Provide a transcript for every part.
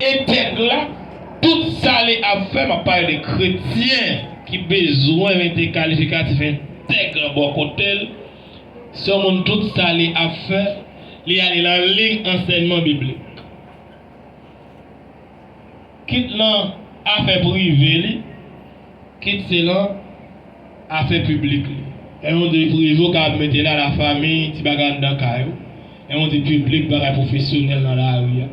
Etèg la, Tout sa li ap fè, m ap pale de kretyen ki bezwen mete kalifikatif entèg lan bò kote l, se yon moun tout sa li ap fè, li ale nan liy ansèyman biblik. Kit nan afè prive li, kit se nan. Afè piblik li. Lè yon di prive ou ka mete la la fami, ti bagay anndan kay ou. Lè yon di piblik bagay pwofesyonèl nan lari a.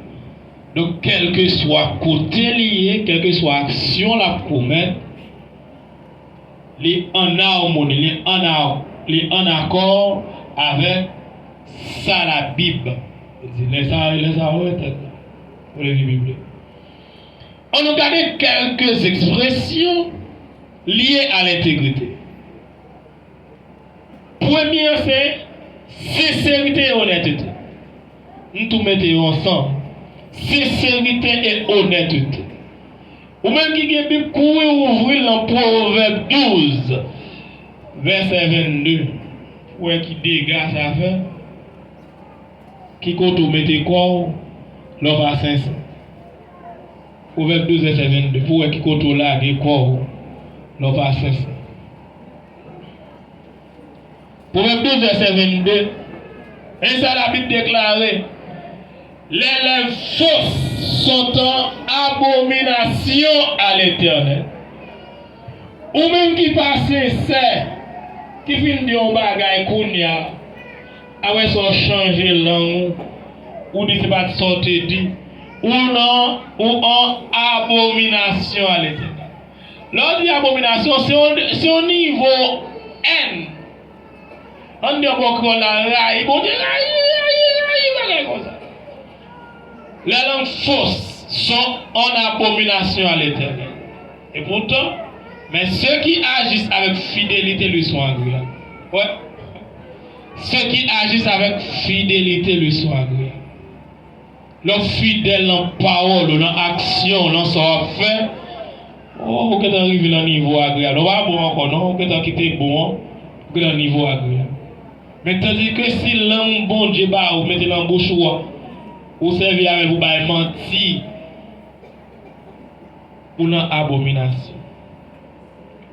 Donk kèlkeswa kote li ye, kèlkeswa aksyon l ap komèt, li ann amoni, li ann li ann akò avèk sa Labib di. Lè sa a, lè sa a wè tèt la. Pwendvi biblik. Annou gade kèlke zespresyon. Lye a lentegrite. Premye an se senserite e onètete. M tou mete yo ansanm. Senserite e onètete. Ou menm ki gen Bib, kouri ouvri l nan Pwovèb 12, vèsè 22, pou wè ki dega sa fè, ki kote ou mete kò ou lè w pa sensè. Pwovèb 12 vèsè 22 pou wè ki kote w lage kò w lè w pa sensè Pwovèb 12 vèsè 22 Men sa Labib deklare, Lè lèv fos son tan abominasyon a Letènèl. Ou menm ki pa sensè, ki fin di yon bagay kounya, A wè sa w chanje lang ou ou di se pa t sa w te di Ou nan ou an abominasyon a Letènèl Lè w di abominasyon se yon se yon nivo èn An n di yon bò kreyòl la rayi Bondye rayi rayi rayi bagay konsa Lè lang fos son an abominasyon a Letènèl Epoutan men se ki ajis avèk fidelite li son agreab Wè Ceux qui agissent avec fidélité le soir gre. Lè w fidèl nan pawòl ou, nan aksyon w, nan sa w ap fè, o, ou gentan rive nan nivo agreyab la. Ou pa bon ankò non, ou gentan kite bon an, ou gen nan nivo agreyab. Men tandike si lang Bondye ba ou mete nan bouch ou a, ou sèvi avè l pou w bay manti, Ou nan abominasyon.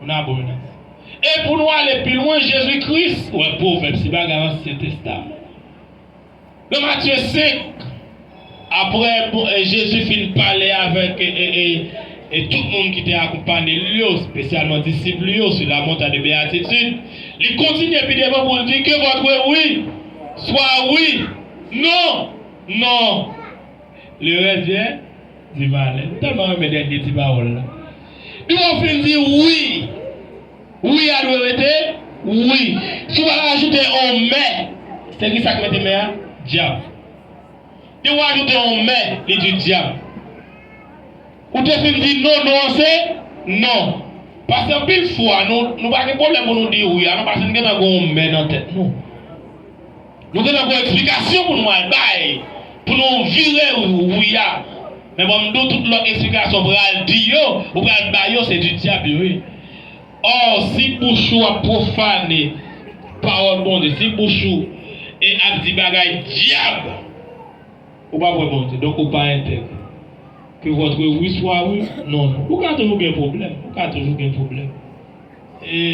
Ou nan abominasyon. E pou nou ale pi lwen, Jezi Kris, ou wè pwovèb se bagay ansyen testaman. Nan Matye 5, apre Jezi fin pale avèk tout moun ki te akonpanye l yo, spesyalman disip li yo, sou Lamontay de Beyatitid, li kontinye pi devan pou l di, Ke vòtre wi swa wi, non, non. Le rès vyen Ti valè. M tèlman renmen dènye ti pawòl la. Depi w fin di wi, wi a dwe rete wi. Si w pa ka ajoute on mè, se ki sa k mete mè a? Dyab. Depi w ajoute on mè, li di dyab. Ou te fin di non, non an se non. Pase anpil fwa, nou pa gen pwoblèm pou nou di wi a non, pase n gen tan gen on mè nan tèt nou. Nou gentan gon eksplikasyon pou nou al bay pou nou vire roue a men banm di w tout lòt eksplikasyon w pral di yo ou pral bay yo se du diable yo ye or si bouch ou ap profane pawòl Bondye si bouch ou e ap di bagay diab ou pap wè Bondye donk ou pa entègre que votre oui soit oui non non ou ka toujou gen problèm ou ka toujou gen problèm e.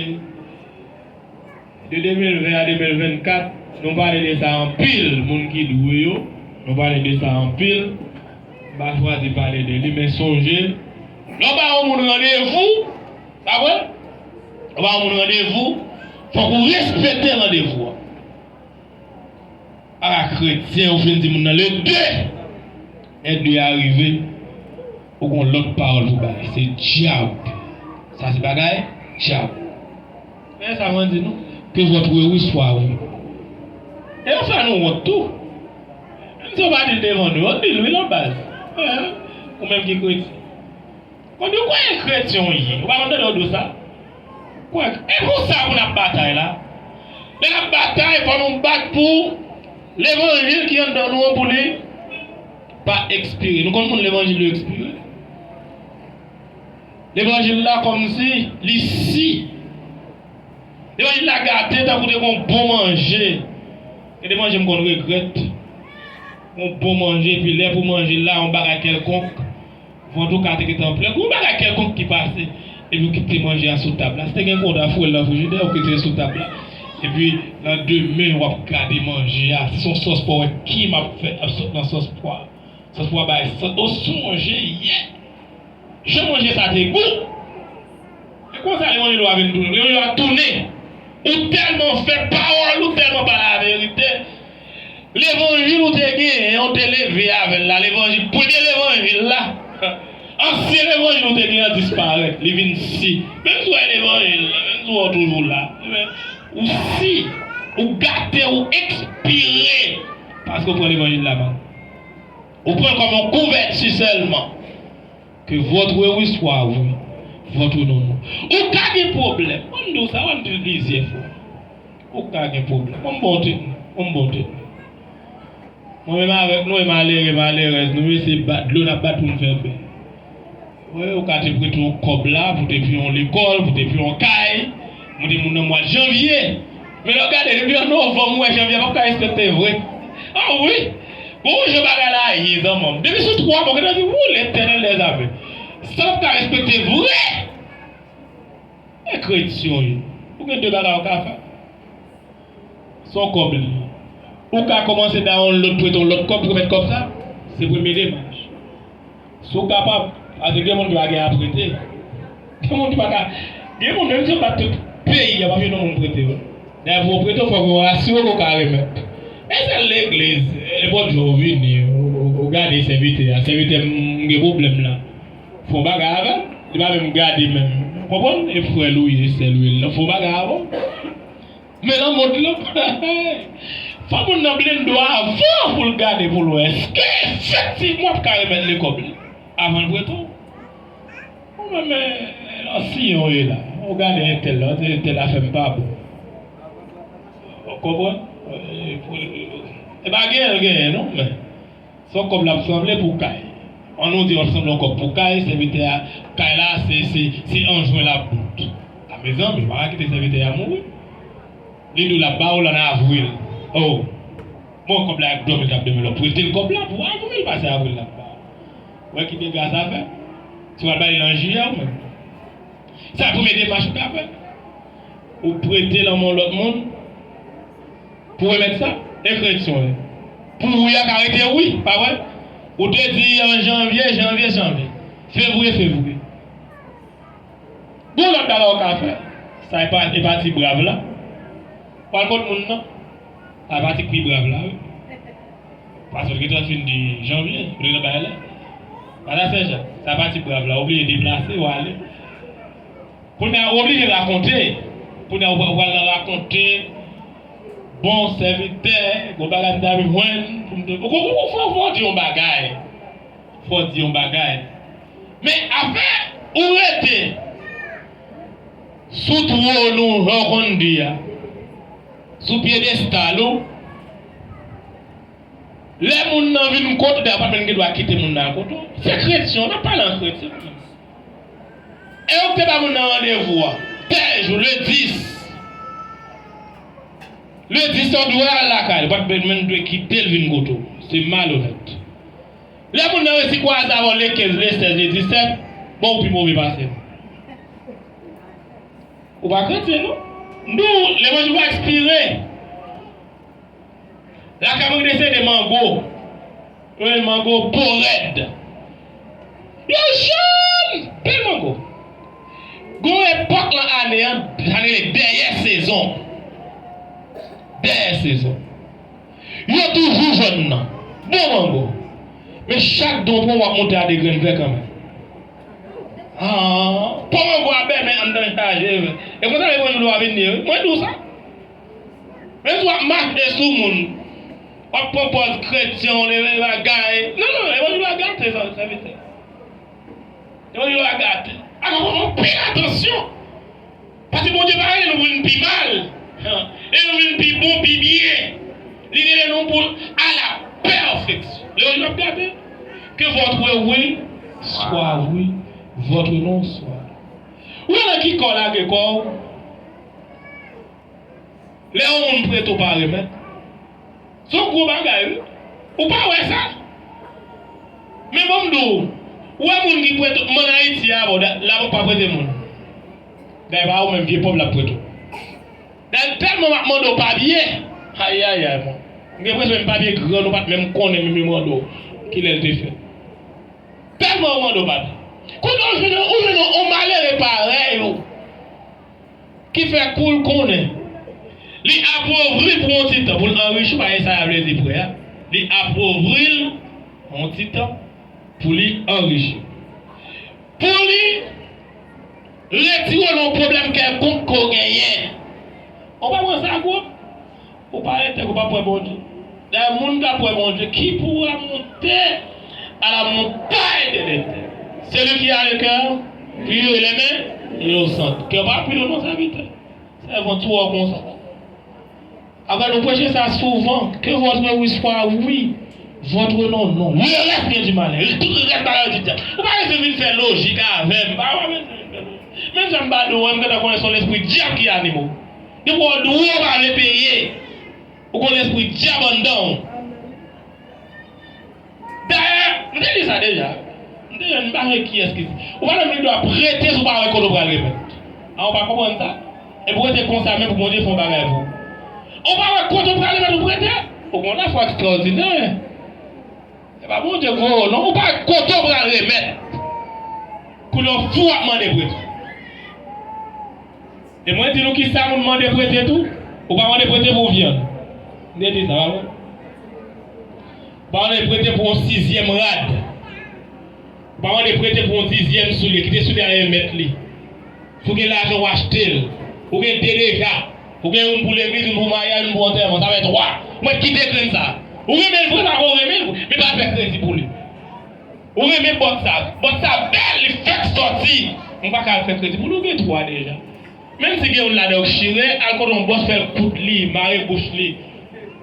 De 2020 a 2024 nou pale de sa anpil moun ki dwe yo nou pale de sa anpil m pa chwazi pale de li men sonje lè w ba yon moun randevou sa vre lè w ba yon moun randevou fòk ou respekte randevou a a la kretyen ou fin di moun nan le 2 lè 2 a rive ou gon lòt pawòl pou bay se djab sa se bagay djab. Dayè sa mwen di nou, ke vòt wi wi swa wi. E yo fè nou wont tou. Menm si yo pa di l devan nou, yo di l wi lan baz. Ou menm ki kretyen. Yo di w kwè e kretyen w ye. Ou pa konn tande yo di w sa? Kwè. E pou sa pou n ap batay la? Lè n ap batay, fò nou bat pou levanjil ki anndan nou an pou li pa ekspire. Nou konn moun levanjil yo ekspire? Levanjil la kòmsi li si. Levanjil la gate tankou de gon bon manje. Gen de manje m konn regrèt. Gon bon manje epi lè pou manje l la yon bagay kèlkonk, vant ou ka te gentan plen. Gon bagay kèlkonk ki pase epi ou kite manje a sou tab la. Si te gen konda fwel nan frijidè ou kite l sou tab la. Epi nan de men w ap gade manje a. Si se yon sòs pwa ou wè kim ap fèt ap sot nan sòs pwa. Sòs pwa bay sant. O sonje yè Jan manje sa te gou! Se konsa Leon Lilo a vin tounen. Leon Lilo a tounen. Ou tèlman fè pawòl, ou tèlman pa laverite. Levanjil ou te genyen an, ou te leve avè l la, levanjil, premye levanjil la, ansyen levanjil ou te genyen an disparèt. Li vin si. Menm si w wè levanjil la, menm si w wè w toujou la, men, ou si, ou gate, ou ekspire paske w pran levanjil la mal. Ou pran kòm yon kouvèti sèlman ke votre oui swa oui, votre non non. Ou ka gen pwoblèm, mwen m di w sa, mwen m di l plizyè fwa. Ou ka gen pwoblèm. Mwen m ba w tèt mwen. Mwen m ba w tèt mwen. Mwen menm avèk nou e malere, malerèz nou yo se bat dlo n ap bat pou n fè bè. Wi ou ka te prete yon kòb la pou te fè yon lekòl, pou te fè yon kay, mwen te moun nan mwa janvye men lè w gade depi an novanm ou wè janvye pap ka respekte vre an wi gon jan bagay la ye zanman m depi sou 3 mwa ou gentan di wou letènèl dè zame sa pap ka respekte vre e kretyon ye ou gen 2 bagay ou ka fè. Son kòb li. Ou ka kòmanse dawonlod pou eton lòt kòb pou remèt kòb sa. Se premye demach. Si w kapab, pase gen moun ki pa gen a prete. Gen moun ki pa ka. Gen moun menm si yo bat tout peyi a pap gen yon moun prete yo. Dayè pou yo prete w fòk yo asire w ke w ka remèt. E sèl legliz, e bon Dye w vini ou gade sèvitè a, sèvitè m m gen pwoblèm la. Fè yon bagay avè l. Li pa menm gade menm. Konprann? E frè l ou ye, sè l ou ye. Fè yon bagay avè w. Men nan mond lan fò moun nan blendo avan pou l gade pou l wè èske efektivman w ka remèt li kòb li avan l prete w. Ou menm men yon siyen w ye la, ou gade entèl la, ou di entèl afè m pa bon. Ou konprann? E pa genyen l genyen non men. Fòk kòb la ap sanble pou kay. An nou di wap sanble yon kòb pou kay, sèvitè a kay la se se se an jwen lap bout. A mezanmi ou pa ka kite sèvitè a mouri. Li diw lap ba ou l an avril. Oh bon kòb la ak dòmi kap dòmi lò pretel kòb la pou avril pase avril lap ba ou. Ou wè ki dega sa fè. Si wal ba li l an jiyè ou menm. Sa premye demach ou ka fè. Ou prete l an men yon lòt moun. Pou remèt sa, ekri x oe. Pou wi a ka rete wi, pa vre? Ou te di an janvye, janvye, janvye. Fevriye, fevriye. Gon lòt bagay ou ka fè. Sa e pa, e pa ti brav la. W al kot moun nan. Sa e pa ti k pi brav la wi. Pase ou te gentan fin di janvye. Ou te gentan bay lè. Pase a Senjak. Sa e pa ti brav la. Ou bliye deplase, w ale. Kounya ou oblije rakonte. Kounya ou pral nan rakonte bon sèvitè gon bagay m ta bzwen pou m te ou fò fò di yon bagay fò di yon bagay men afè ou rete sou twòn ou jan ou konn di a sou pyedestal ou lè moun nan vin kont ou dayè ou pat menm gen dwa kite moun nan al kont ou se kretyen w nap pale an kretyen. E ou k te ba moun nan randevou an? Tè jou, le 10. Le 10 sa ou dwe al lakay li, ou pa t menm dwe kite l vin kote w. Se malonèt. Lè moun nan resi kwaze avè w le 15, le 16, le 17, bon ou pi move pase l. Ou pa kretyen non. M di w, levanjil pa ekspire. Lakay mwen gen sede mango. Wi mango bo rèd. Yo jòn! Bèl mango. Gen yon epòk lan ane an sa rele dèyè sezon. Dèyè sezon. Yo toujou jòn nan. Bon mango. Men chak dan w pran w ap monte a 2 grenn vè kanmenm. Haa. Po mango a bèmen anndan l chaje. E konsa yo konn di w dlo a vin di yo wi. Mwen di w sa. Epi wap mande sou moun, wap pran pòz kretyen w leve yon bagay. Non non levanjil la gate sèvitè. Levanjil la gate. Alò fòk nou pi atansyon. Paske Bondye pa rele nou pou vin pi mal. Li rele nou pou vin pi bon, pi byen. Li rele nou pou n a la pèfeksyon. Levanjil la ap gate. Ke votre oui soit oui, votre non soit non. Ou wè nan ki kò w lage kò w? Lè yon moun prete w pa remèt. Son gwo bagay wi. Ou pa wè sa? Men bon m di w, ou wè moun ki prete w, m an Ayiti a bon, labank pa prete moun. Dayè pa ou menm vye pòv l ap prete w. Dayè tèlman w ap mande w papye, ayayay mwen. M gen enpresyon menm papye grann ou pa t menm konnen menm yo mande w kilè l te fèt. Tèlman yo mande w papye. Kounye a ou jwenn yon malere parèy ou. Ki fè kou l konnen. Li apovri pou yon ti tan. Pou l anrichi, pa gen sa a vle di prè a. Li apovri l yon ti tan pou li anrichi. Pou li retire l yon pwoblèm kèlkonk ke w genyen. Ou pa pran sa gwo? Ou pa entèg ou pa pwè Bondye. Dayè moun ka pwè Bondye ki poua moute a la montay de letèn. Seli ki a le kè pur e le men inosant. Kè w pa pur non sèvitè. Sèvant tou wè w konsa la. Apa nou preche sa souvan. Ke votre oui swa oui, votre non non. Le rès vyen di malè. Tout rès bagay yo di dyab. Ou pa bezwen vin fè lojik avè m. Ou pa bezwen vin fè lojik. Menm jan m pale ou an m gentan konnen son lespri dyab ki anime w. Depi w dwe w pa dwe peye. Ou konn espri dyab anndan w. Dayè, m te di sa deja. M te jwenn m pa konnen kiyès ki di. Ou pa menm gen dwa prete si w pa wè kote w pral remèt. A ou pa konprann sa? Epi w rete konsa menm pou Bondye fè yon bagay pou ou. Ou pa wè kote w pral remèt ou prete? Ou gen yon lafwa ekstrawòdinè. Se pa Bondye gwo o non. Ou pa wè kote w pral remèt. Koulye w fou w ap mande prete. E mwen di nou kisa moun mande prete tou, ou pa mande prete pou vyann. M te di sa, pa vre? Ou pa mande prete pou yon sizyèm rad. Ou pa mande prete pou yon dizyèm soulye. Kite soulye a e mèt li. Si w gen lajan w achte l. Ou gen de deja. Ou gen youn pou legliz, youn pou maryaj, youn pou antèman. Sa fè twa. Ou mèt kite grenn sa a. Ou renmen l vre pako ou renmen l vre. Men pa fè kredi pou li. Ou renmen bòt sa? Bòt sa bèl li fèk sòti. Mwen pa ka al fè kredi pou li ou gen 3 deja. Menm si gen youn ladan yo k chire al kote yon bòs fèl koud li mare bouch li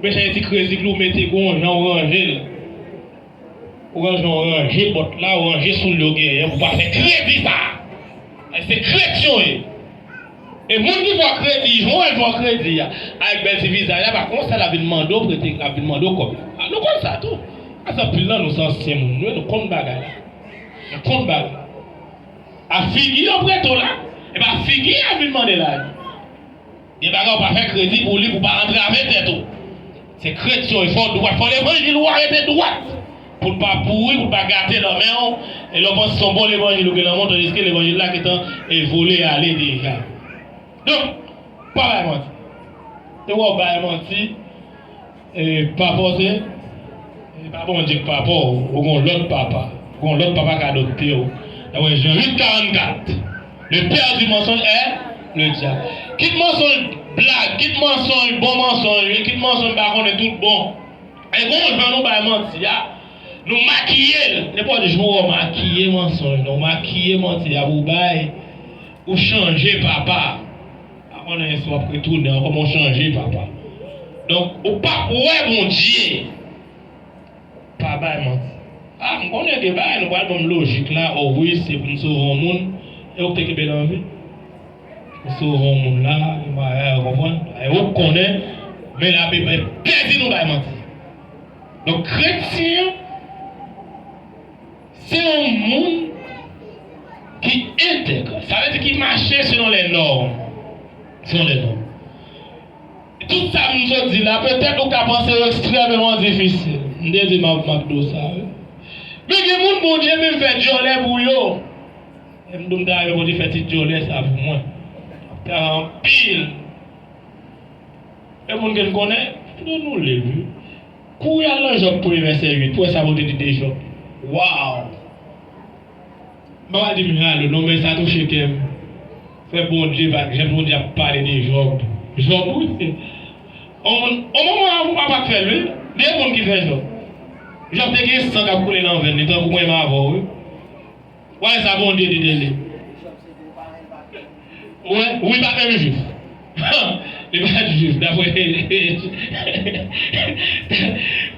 bechèye ti kredi pou li ou mete gon yon jan ou ranjel ou gon jan ou ranje bòt la ou ranje soulye ou genyen pou pa fè kredi sa a se kretyon ye. E moun ki fè w kredi, jan w wè l fè w kredi a, avèk bèl ti vizaj la, pa konsa l ap vin mande w prete, l ap vin mande w kòb la. Nou konn sa tou. Pase anpil nan nou se ansyen moun vre, nou konn bagay la. Nou konn bagay la. A figi yo prete w la, e pa figi y ap vin mande lajan. Gen bagay ou pa fè kredi pou li pou w pa antrave tèt ou. Se krèt yo, e fò w dwat. Fò levanjil ou a rete dwat pou l pa pouri, pou l pa gate nan men w. E lè w panse se yon bon levanjil ou gen nan men w tandiske levanjil la gentan e vole ale deja. Donk, pa bay manti. E wè w bay manti, e pa fòse, e pa Bondye k papa w, ou gen yon lòt papa. Ou gen yon lòt papa k adopte w. Dapre Jan 8, 44. Le père du mensonge est le diable Kit mansonj blag, kit mansonj bon mansonj, kit mansonj pa konnen tout bon E gon jan nou bay manti a, nou makiye l Nenpòt jou ou makiye mansonj la, ou makiye manti a pou ou bay Ou chanje papa Pa konnen si w ap retounen ankò men ou chanje papa Donk ou pap wè Bondye Pa bay manti. Ah m konnen de bagay nou pral banm lojik la oh wi se pou m sove yon moun e ou k te kenbe l an vi pou sove yon moun la gen bagay ou konprann e ou k konnen men la bib entèdi nou bay manti donk kretyen an se yon moun ki entèg sa vle di ki mache selon lè nòm selon lè nòm Tout sa m sot di la, petèt ou ka panse yo ekstrèmeman difisil. M te di Marc McDo sa, wi. Men gen moun Bondye menm fè dyòlè pou yo. Lè m di w m ta renmen Bondye fè ti dyòlè sa pou mwen, ap ta gen anpil e moun ke n konnen, fòk nou li l, wi. Kouri al nan Jòb premye vèsè 8, pou w wè sa Bondye di de Jòb. Waw! Papa dim halo non men sa touche kèm fè bondye pa jan bondye ap pale de jòb jòb wi on moun on moman avou papa k fèl wi de moun ki fè jòb jòb te gen san kap koule nan venn li tankou mwen m avèw wi wale sa bondye di de li. Mwen, wi pa menm jwif. Han! Li pa t jwif dapre.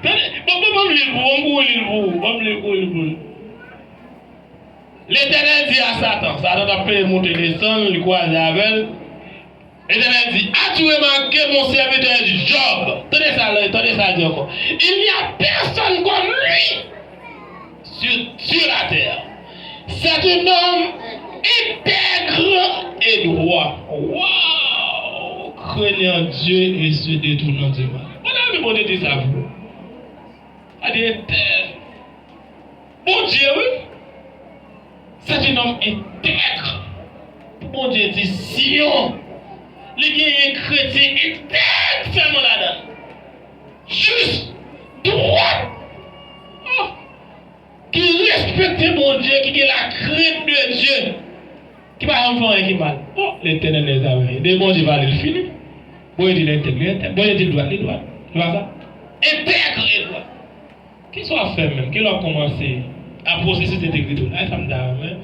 Tande! Bon, bon, ban m li l pou ou, m kouri li l pou ou. Ban m li l, kouri li pou l. Letènèl di a Satan, Satan t ap fè monte desann, li kwaze avè l, Letènèl di, As-tu remarqué mon serviteur Job? Tande sa, tande sa l di ankò, Il n'y a personne comme lui! Sur Dieu la terre c'est un homme intègre et droit waw craignant Dieu et se detournant du mal mwen ta renmen Bondye di sa vre gade entè Bondye wi c'est un homme intègre pou Bondye di Sion li genyen kretyen entèg sèlman ladann. Jis, dwat, oh, ki respekte Bondye, ki gen lakrent de Dye, ki pa janm fè anyen ki mal. Oh, Letènèl lè sa vini. Lè Bondye pale, li fini. Bondye di l entèg, li entèg. Bondye di l dwat, li dwat. Se pa sa? Entègre e dwat. Kisa w ap fè menm? Kilè w ap kòmanse a pwosesis entegrite w la? E sa m ta renmen,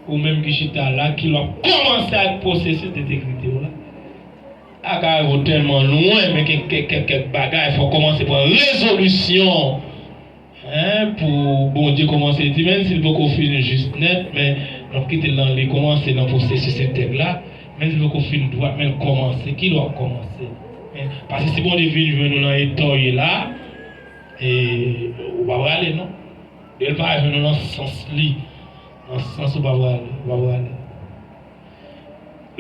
ou menm ki chita la, kilè w ap kòmanse ak pwosesis entegrite w la? Agay ou telman lwen men gen kek bagay fok komanse pran rezolisyon hein pou Bondye komanse di menn sil poko fin jis nèt men nap kitel nan li komanse nan pwosesis entèg la menn sil poko fin dwat menl komanse kilè wap komanse hein pase si Bondye vin jwenn ou nan eta ou ye la ee ou pa prale non lel pa jwenn ou nan sans li nan sans ou pa prale ou pa prale.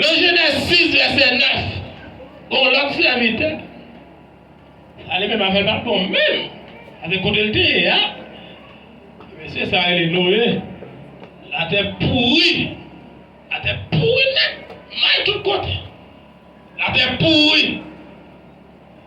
Nan Jenèz 6, vèsè 9, gen yon lòt sèvitè. Sa li menm afè l pa t bon menm avèk kote l te ye a. Ti mesye sa rele Noye. Latè pouri. Latè pouri nèt. May tout kote. Latè pouri.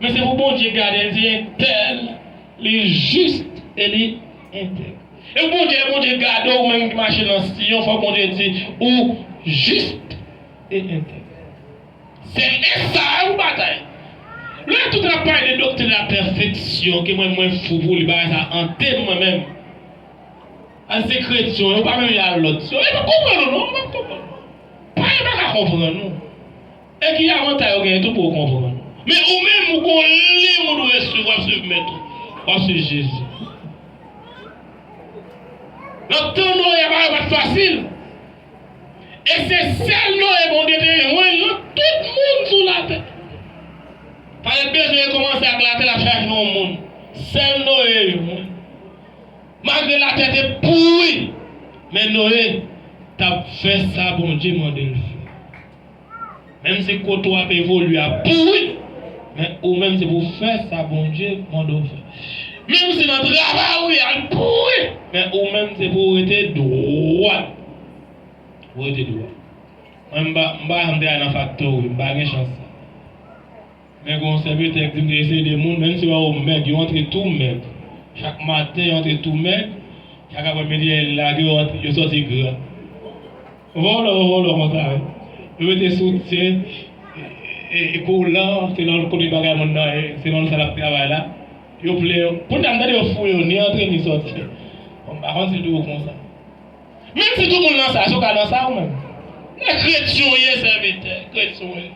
Men se pou Bondye gade l di entèl li jis e li entèg. E pou Bondye lè Bondye gade w menm ki mache nan Siyon fòk Bondye di ou jis e entèg. Se esa a ou batay. Lè tout ap pale de doktrin la pèfeksyon ke mwen mwen fou pou li bagay sa ante m mwen menm. An se kretyon yo pa menm jan a lòt yo. Yo pa konprann ou non yo pa konprann. Pa yo pa ka konprann ou. E ki avantay yo genyen tou pou yo konprann. Men ou menm ou gon liy ou dwe swiv, wap swiv mèt ou, wap swiv Jezi. Nan tan Noye bagay pat fasil. E se sèl Noye Bondye te jwenn nan tout moun sou latè. Pa tèt bezwen kòmanse ak latè lap chache yon moun. Sèl Noye jwenn. Malgre latè te pouri men Noye tap fè sa Bondye mandel fè. Menm si kote w ap evolye a pouri, men ou menm se pou w fè sa Bondye mande w fè. Menm si nan travay ou ya l pouri, men ou menm se pou w rete dwat. Pou w rete dwat. Mwen m pa m pa janm travay nan faktori, m pa gen chans sa. Men gen yon sèvitè ki di m te eseye ede moun, menm si yo wè yo mèg, yo antre tou mèg. Chak maten yo antre tou mèg, chak apremidi lè yo lage yo antre, yo sòti gra. Vòlò vòlò konsa wi yo mete soutyen e kolan se nan kote bagay moun nan ye se nan sa lap travay la yo plen yo kounya m tande yo fouye yo ni antre ni sòti bon m pa konn si toujou konsa menm si tout moun nan sa si w ka nan sa ou menm nan kretyen w ye sèvitè kretyen w ye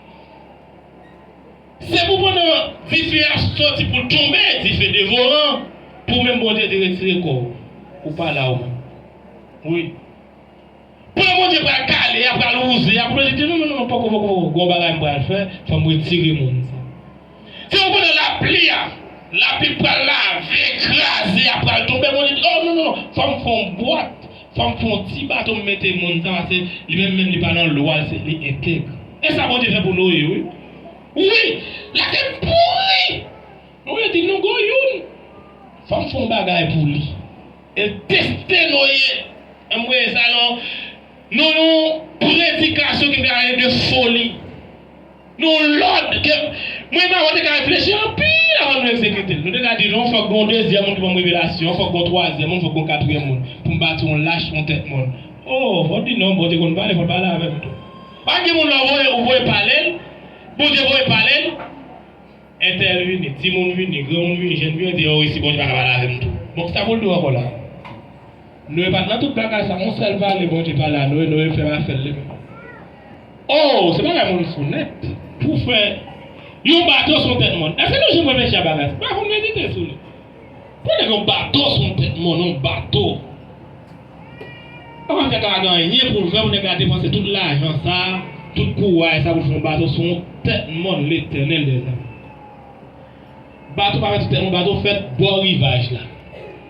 se pou pandan dife a sòti pou l tonbe dife devoran pou menm Bondye te retire kò w ou pa la ou menm wi. Plan Bondye pral kale a pral wouze a pou Bondye di non non non poko poko poko gon bagay m pral fè fòm retire moun sa fè ou konnen lapli a lapli pral lave kraze a pral tonbe Bondye di oh non non non fòm fon bwat fòm fon ti bato m mete moun sa pase li menm menm li pa nan lwa l se li entèg e sa Bondye fè pou Noye wi wi latè pouri Noye di non gon youn fòm fon bagay pou li. El peste no ye anmwee sa non non nou predikasyon ki gare de foli nou lòd ke mwen mwen te ka reflechi anpil avan nou ekzekitel nou te ka di non fòk gen yon dezyèm moun ki banm revelasyon fòk gen yon twazyèm moun fòk gen yon katriyèm moun poum bati yon lach yon tèt mòn oo fòm di non bon te konn pale fòl pale avèm tou pa gen moun lè ou voye ou voye palel bondye voye palel. Entèl vini, timoun vini, granmoun vini, jèn vini, di yon resi Bondye pa ka pale avè m tou. Bon, kisa pou l di w ankò la a? Noe pa t nan tout bagay sa a. Yon sèl pale Bondye pale a Noe, Noe fèm afè l li menm. O, se bagay moun fou nèt. Pou fè yon bato sou yon tèt mòn. Èske nou janm reflechi a bagay sa? Bagay pou n medite sou li. Pou w fè yon bato sou yon tèt mòn, yon bato. Koman nèg la pa gen anyen pou l fè pou nèg la depanse tout lajan sa a, tout kouray sa a pou l fè yon bato sou yon tèt mòn Letènèl dèzame? Bato pa fèt sou tèt mòn, bato fèt bò rivaj la.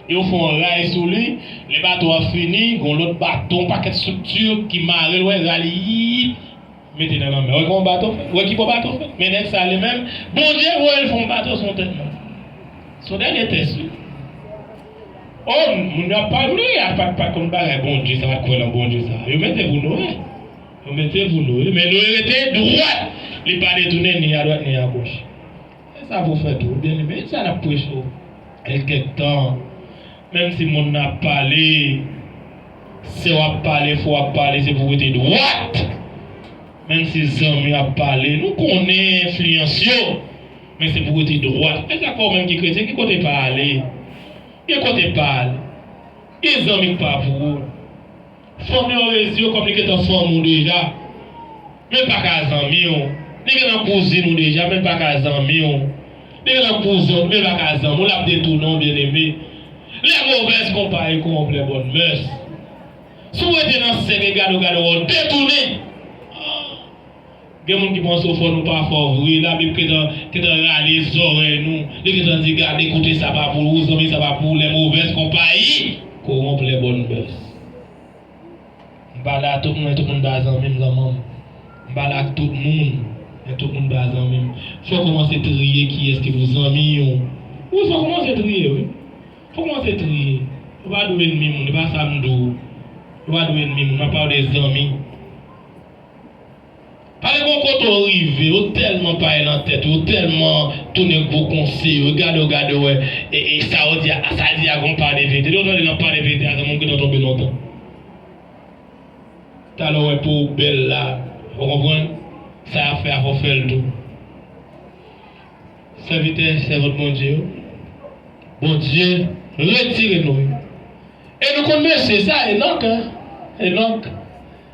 E yo fè yon ray sou li, lè bato a fini, gen yon lòt bato, yon pakèt estrikti ki mare l, wè, ra li, yiyip, mete nan lanmè. Wè kòman bato fèt, wè ki bò bato fèt. Men nèg sa a li menm, Bondye voye l fè yon bato sou yon tèt mòn. Se yon dènye tès, wi. Oh moun yo ap pale a pat pa konn bagay Bondye sa pat kwè nan Bondye sa yo mete pou nou wi yo mete pou nou wi men nou rete dwat li pa detounen ni a dwat ni a goch e sa pou fè tou ebyen li men sa nap preche w el kèk tan menm si moun nan ap pale sè w ap pale frè w ap pale se pou w rete dwat menm si zanmi w ap pale nou konnen enfliyans yo. Men se pou rete dwat. Mèt lakò ou menm ki kretyen ki kote pa ale? Gen kote pa al. Gen zanmi k pa pou ou. Fanmi w resi w kòm li gentan fanmi w deja. Men l pa ka zanmi w. Li gentan kouzin ou deja men l pa ka zanmi w. Li gentan kouzin w men l pa ka zanmi w. L ap detounen w byeneme. Lè movèz konpayi kowonplè bòn mès. Si w rete nan sèk e gade w gade w wè w detounen. Gen moun ki panse ou fò nou pa fò vre labib gentan gentan rale zòrèy nou li gentan di gade kote sa pa pou ou zanmi sa pa pou ou lè movèz konpayi koronp lè bòn bèz m pale a tout moun men tout moun pa zanmi m zanman m m pale ak tout moun men tout moun pa zanmi m fò kòmanse triye kiyès ki pou zanmi ou wi fò kòmanse triye wi fò kòmanse triye ou pa dwe enmi moun e pa sa m di w ou pa dwe enmi moun m ap pale w de zanmi. Pale bon kote w rive yo telman paye nan tèt yo telman tounen gwo konse yo gade w gade w wè e sa yo di a sa l di a gon pa de verite depi w tande nan pa de verite a zanmi m gentan tonbe lontan talè w wè po w bèl la ou konprann sa yap fè a fò w fè l tou sèvitè sèvant Bondye yo Bondye retire nou yo e nou konn mesye sa Enock Enock.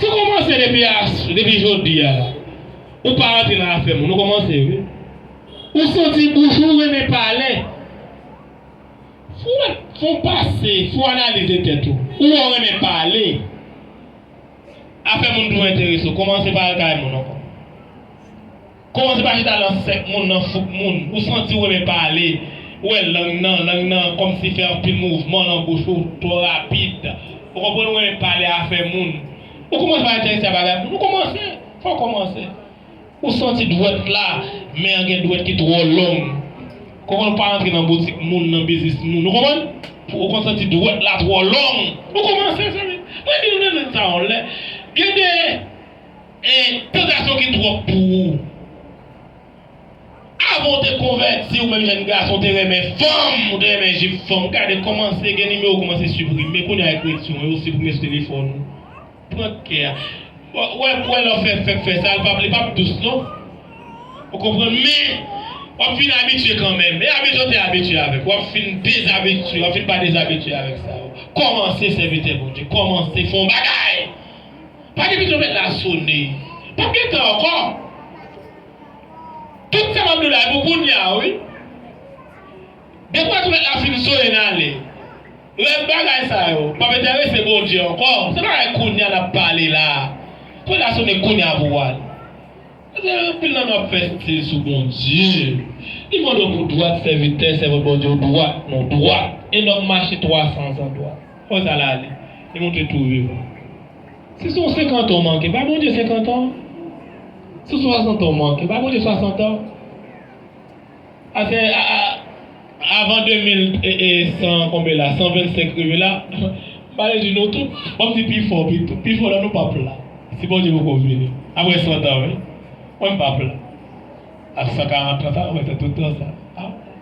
Sa komanse depi a depi jodi a la ou pa rantre nan afè moun ou komanse wi ou santi bouch ou renmen pale fou fon pase fon analize tèt ou ou wè ou renmen pale afè moun tou enterese w komanse pa al kay moun ankò. Kòman se pa chita lan sèk moun, lan fouk moun, ou santi ou renmen pale, ou wè lang nan, lang nan kòmsi fè anpil mouvman lan bouch ou, twò rapid, ou konprann ou renmen pale afè moun, ou kòmanse pa entèrese a bagay moun, ou kòmanse, fò ou kòmanse, ou santi dwèt la, men an gen dwèt ki twò long, konprann ou pa rantre lan boutik moun, lan biznis moun, ou konprann, ou konn santi dwèt la twò long, ou kòmanse zanmi m, mwen di nou nan nèt sa yon lè, gen de. Eeh pil gason ki trop pou ou. Avan ou te konvèti ou menm jèn gason ou te renmen fanm, ou te renmen jip fanm, gade kòmanse gen nimewo ou kòmanse siprime, kounye a ekriti yon yo ou siprime sou telefòn ou. Pran kè a. Ou wè ou wè lè w fè fèk fè sa, li pap li pap dous non. Ou konprann men, wap fin abitye kanmenm. E abitye ou te abitye avèk, wap fin dezabitye, wap fin pa dezabitye avèk sa yo. Kòmanse sèvitè Bondye, kòmanse fè yon bagay! Pa gen bezwen mèt la sone. Pap gen tan ankò. Tout sa map diw la e pou kounya wi. Depi wè ti mèt la fin sone n ale. Rèv bagay sa yo pap entèrese Bondye ankò. Se bagay kounya nap pale la. Ti mèt la sone kounya pou w al. Paske anpil nan nou ap fè stil sou Bondye. Li mande w pou dwat sèvitè, sèvant Bondye w dwat. Nou dwat. E nonm mache 300 zan dwat. Kò sa la ale. Li montre tou viv. Si son senkant an w manke, bay Bondye senkant an. Si son swasant an w manke, bay Bondye swasant an. Ase avan 2100 konbe la, 125 rive la, m pa vle di nou tout, ban m di pi fò pito, pi fò nan nou p ap la, si Bondye poko vini, apre santan wi. Mwen m p ap la. Ak 140 an sa, mwen fè tout tan sa a.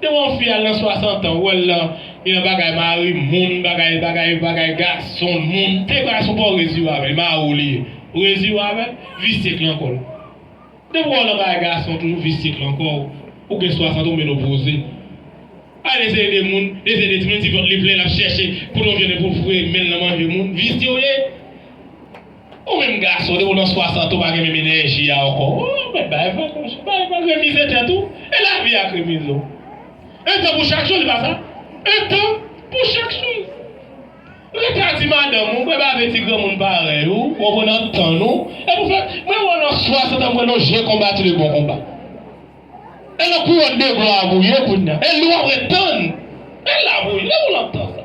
Depi yon fi al nan 60 an ou wèl nan yon bagay mari moun bagay bagay bagay gason moun te bagay son paw resi yo avèl mari w li ye ou resi yo avèl visye k lan kòl depi wè w nan bagay gason toujou visye k lan kò w ou gen 60 ou menopoze al eseye de moun eseye de timoun ti vant li plen lap chèche kote yon vyann epi w foure menl nan manje moun visye w ye. Ou menm gason depi w nan 60 ou pa gen menm enèji a ankò oh mèt bay vag monchè bay vag remize tèt ou e lavi a k remize w un tan pou chak choz e pa sa un tan pou chak choz rete a ti madanm ou bwè bave ti granmoun parèy ou wap wè nan tann ou e pou fè mwen wè w nan 60 an m wè nan w je konbati le bon konba e nan kouwòn de glwa a pou w ye kounya e li wap ret tann e la pou w ye depi w nan tan sa.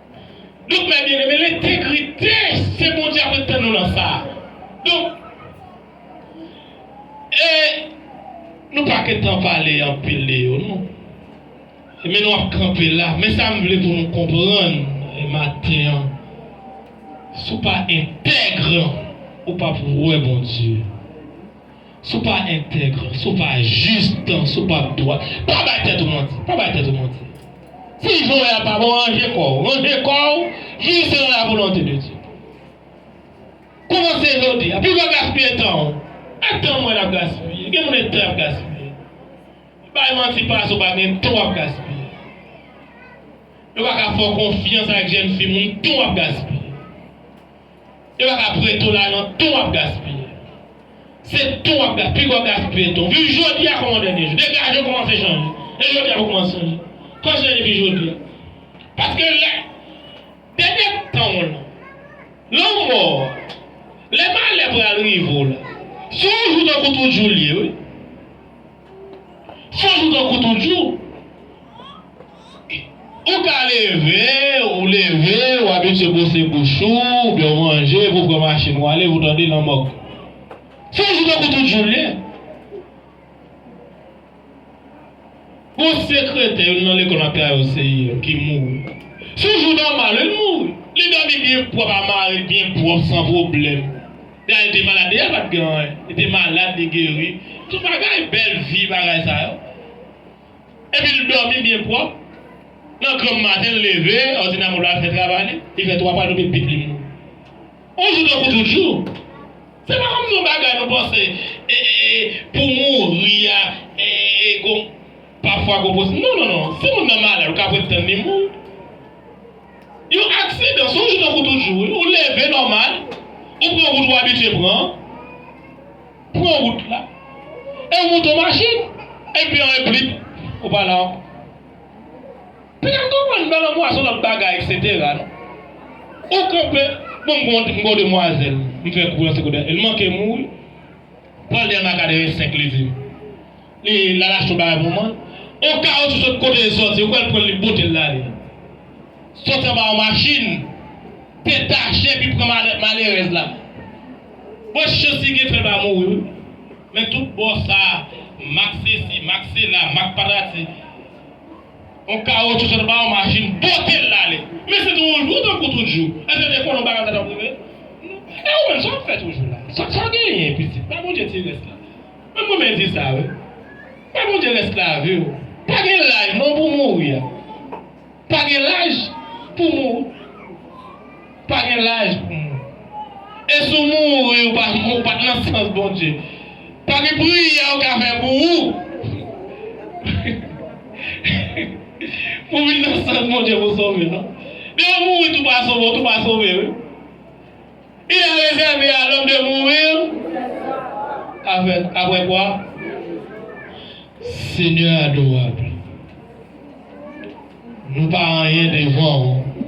Donk frè byeneme lentegrite se Bondye ap ret tann nou nan sa. Donk e nou pa gentan pale anpil de yo non. E men nou ap kanpe la. Men sa m vle pou nou konprann maten an si w pa entègre ou pap wè Bondye. Si w pa entègre, si w pa jis, si w pa dwa, pa bay tèt ou manti. Pa bay tèt ou manti. Si jan w ye a pa bon, ranje kò w. Ranje kò w jis selon lavolonte de Dye. Kòmanse jodi a. Pi lwen gaspiye tan w. E tan mwen ap gaspiye. Gen moun e tan y ap gaspiye. Bay manti pa sa w pa gen. Tan w ap gaspiye. Yo pa ka fè w konfyans ak jèn fi moun tan w ap gaspiye. E wap ap re tou la non ton wap gaspiye se ton wap ga pigwa wap gaspiye ton viv jodia kòm yon dènye jou depi aje kòmanse chanje e jodia pou kòmanse chanje kòmanse chanje depi jodia paske lè dènye tanw lan lanmò a lè malè pral rive w la se yon jou tankou tout jou l ye wi. Chak jou tankou tout jou. Ou ka leve, ou leve, ou abitye bwose bouch ou, oubyen ou manje epi ou pran machin ou ale, epi ou tande lanmòg. Chak jou tankou tout jou l ye. Gon sekretè youn nan lekòl map travay o CIM ki mouri. Sou jou nòmal li mouri. Li dòmi byen pwòp a mari l byen pwòp san pwoblèm. Dayè te malad dèyè pat gen anyen li te malad li geri tout bagay bèl vi bagay sa yo epi l dòmi byen pwòp nan granm maten l leve òdinamò la fè travay li li fè 3 pa l tonbe pip li mouri on jou tankou tout jou se pa kòmsi on bagay nou panse pou mouri a gon pafwa gon posi non non non si moun nan malad ou ka prèt tann li mouri. Yon aksidan se yon jou tankou tout jou wi, ou leve nòmal, ou pran wout ou abitye pran an, pran wout la, e ou moute yon machin, epi anyen blip, ou pa la ankò. Pita m konprann nan lanmou a se yon lòt bagay eksetera non. Ou kanpe, bon m gen yon m gen yon demwazèl m fè kou nan secondaire, l manke m mouri, pral li al nan akademi 5 li di m. Lala fè bagay pou mwen. Oka ou se sòt kote li sòti ou kwè li pran li bote l lale sòti anba yon machin te tache epi pran malè malerèz la bon chans li gen fè l pa mouri wi men tout bò sa mak sesi mak sela mak patati yon kawotchou sòt anba yon machin bote l lale men se tou yon jou tankou tout jou èske te konnen yon bagay konsa t ap rive e ou menm sa w ap fè toujou la sa w genyen pitit bay Bondye ti rès la. Mwen konmen di sa wi. Bay Bondye rès laviw. Pa gen laj non pou mouri a. Pa gen laj pou mou. Pa gen laj pou mou. E si w mouri ou pa ou pat nan sans Bondye. Pa gen priyè ou ka fè pou ou. Pou vin nan sans Bondye pou sove non. Depi w mouri tou pa sove ou tou pa sove wi. Li a rezève a lòm de mourir avèk, apre kwa? Senyè adorab, nou pa anyen devan ou.